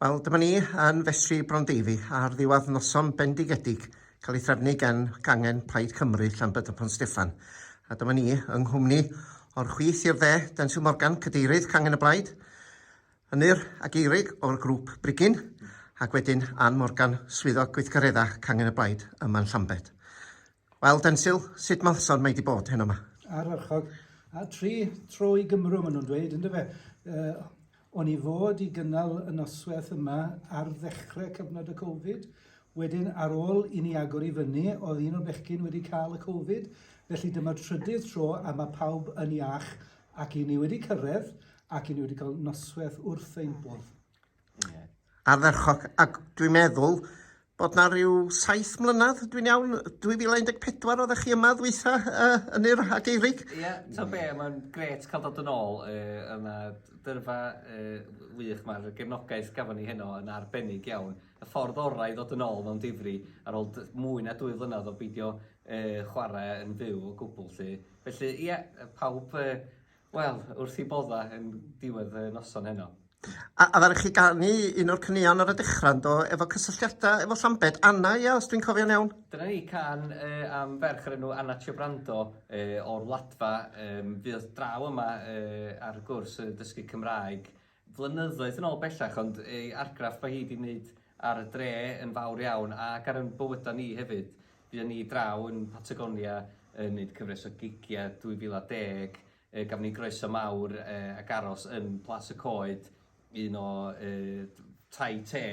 Wel, dyma ni yn festri Brondeiddi ar ddiwedd noson bendigedig cael ei threfnu gan gangen Plaid Cymru Llanbed y Pont Steffan. A dyma ni yng nghwmni o'r chwith i'r dde, Denzil Morgan, cadeirydd cangen y Blaid, Ynyr a Geirig o'r grŵp Brigyn, ac wedyn Ann Morgan, swyddog gweithgareddau cangen y Blaid yma'n Llambed. Wel, Densil, sut malsawd mae 'di bod heno 'ma? Ardderchog. A tri tro i Gymru, maen nhw'n dweud, ynddo fe. Uh, o'n i fod i gynnal y noswaith yma ar ddechrau cyfnod y Covid, wedyn ar ôl i ni agor i fyny, oedd un o'r bechgyn wedi cael y Covid, felly dyma'r trydydd tro a mae pawb yn iach ac i ni wedi cyrraedd ac i ni wedi cael noswaith wrth ein bodd. ardderchog ac dwi'n meddwl bod 'na ryw saith mlynedd, dwi'n iawn, 2014 oeddech chi yma ddwytha uh, yn yr ageirig? Ie, yeah, ta be, mae'n gret cael dod yn ôl uh, yma dyrfa uh, wych, mae'r gefnogaeth gafon ni heno yn arbennig iawn. Y ffordd orau i ddod yn ôl mewn difri ar ôl mwy na dwy flynedd o beidio uh, chwarae yn fyw o gwbl, lle. Felly, ie, yeah, pawb uh, Wel, wrth i bodda yn diwedd y noson heno. A, a ddari chi ganu un o'r caneuon ar y dechrau, do, efo cysylltiadau efo Llambed, Anna, ia, os dwi'n cofio'n iawn? Dyna ni, can uh, am ferch yr enw Anna Ciobrando uh, o'r Wladfa, um, fydd draw yma uh, ar gwrs y dysgu Cymraeg flynyddoedd yn ôl bellach ond ei argraff mae hi 'di neud ar y dre yn fawr iawn ac ar yn bywyda ni hefyd. Fuon ni draw yn Patagonia yn neud cyfres o gigia 2010 yy gafon ni groeso mawr yy ac aros yn Plas y Coed un o yy tai te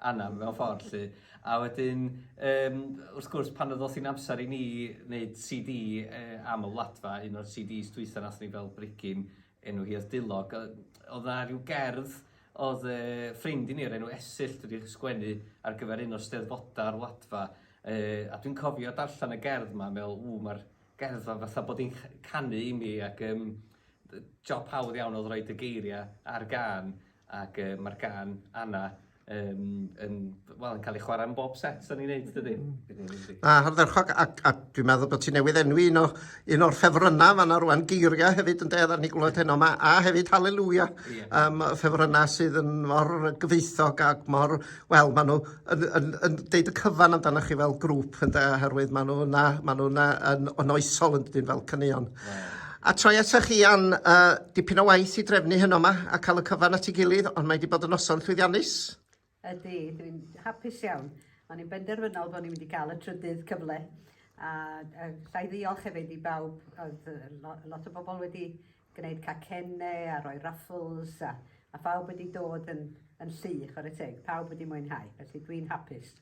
Anam mewn ffordd 'lly a wedyn yym wrth gwrs pan ddoth hi'n amser i ni neud CD yy am y Wladfa un o'r CDs dwytha nathon ni fel bregyn Enw hi oedd Dulog. Oedd na rhyw gerdd oedd e, ffrind i ni o'r enw Esyll wedi sgwennu ar gyfer un o'r steddfodau ar Wladfa. E, a dwi'n cofio darllen y gerdd yma, meddwl, ww, mae'r gerdd yma fatha bod hi'n canu i mi ac um, job hawdd iawn oedd rhoi dy geiriau ar gan ac uh, mae'r gan Anna um, yn, well, yn cael ei chwarae yn bob set o'n i'n neud, dydy? Mm. A hardderchog, a, a dwi'n meddwl bod ti newydd enwi un, o, un o'r ffefrynnau fan ar rwan geiriau hefyd yn dedd ar ni glwyd heno yma, a hefyd Hallelujah, yeah. um, ffefrynnau sydd yn mor gyfeithog ac mor, wel, maen nhw yn, yn, yn deud y cyfan amdanoch chi fel grŵp, yn dda, herwydd maen nhw yna, maen nhw yna yn, yn oesol yn dyn fel cynnion. A troi ata chi am uh, dipyn o waith i drefnu hyn o'ma a cael y cyfan at ei gilydd, ond mae wedi bod yn noson llwyddiannus. Ydy, dwi'n hapus iawn. O'n i'n benderfynol bod ni'n mynd i gael y trydydd cyfle. A, a llai ddiolch hefyd i bawb, oedd lot o bobl wedi gwneud cacennau a rhoi raffles a, a phawb wedi dod yn, yn llu, chwarae teg, pawb wedi mwynhau, felly dwi'n hapus.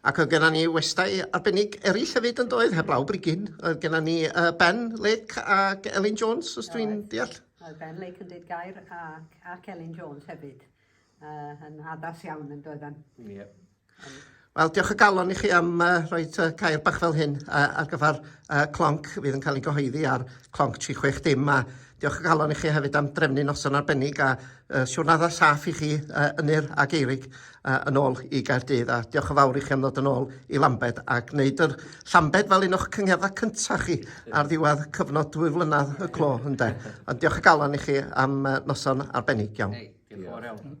Ac oedd genna ni westai arbennig eraill hefyd yn doedd, heblaw brigyn. Oedd genna ni uh, Ben Lake ac Elin Jones, os dwi'n deall. Oedd Ben Lake yn dweud gair ac, ac Elin Jones hefyd. Uh, yn addas iawn yn doedd yn. Yep. Um, Wel, diolch o galon i chi am uh, rhoi uh, cair bach fel hyn uh, ar gyfer uh, clonc fydd yn cael ei gyhoeddi ar clonc 36 dim a diolch o galon i chi hefyd am drefnu noson arbennig a uh, siwrnadau saff i chi uh, yn yr ag eirig a yn ôl i Gaerdydd a diolch yn fawr i chi am ddod yn ôl i Lambed a gwneud yr Llambed fel un o'ch cyngherddau cyntaf chi ar ddiwedd cyfnod dwy flynedd y clo ynde. Ond diolch o galon i chi am noson arbennig iawn. Hey, diolch yn fawr iawn.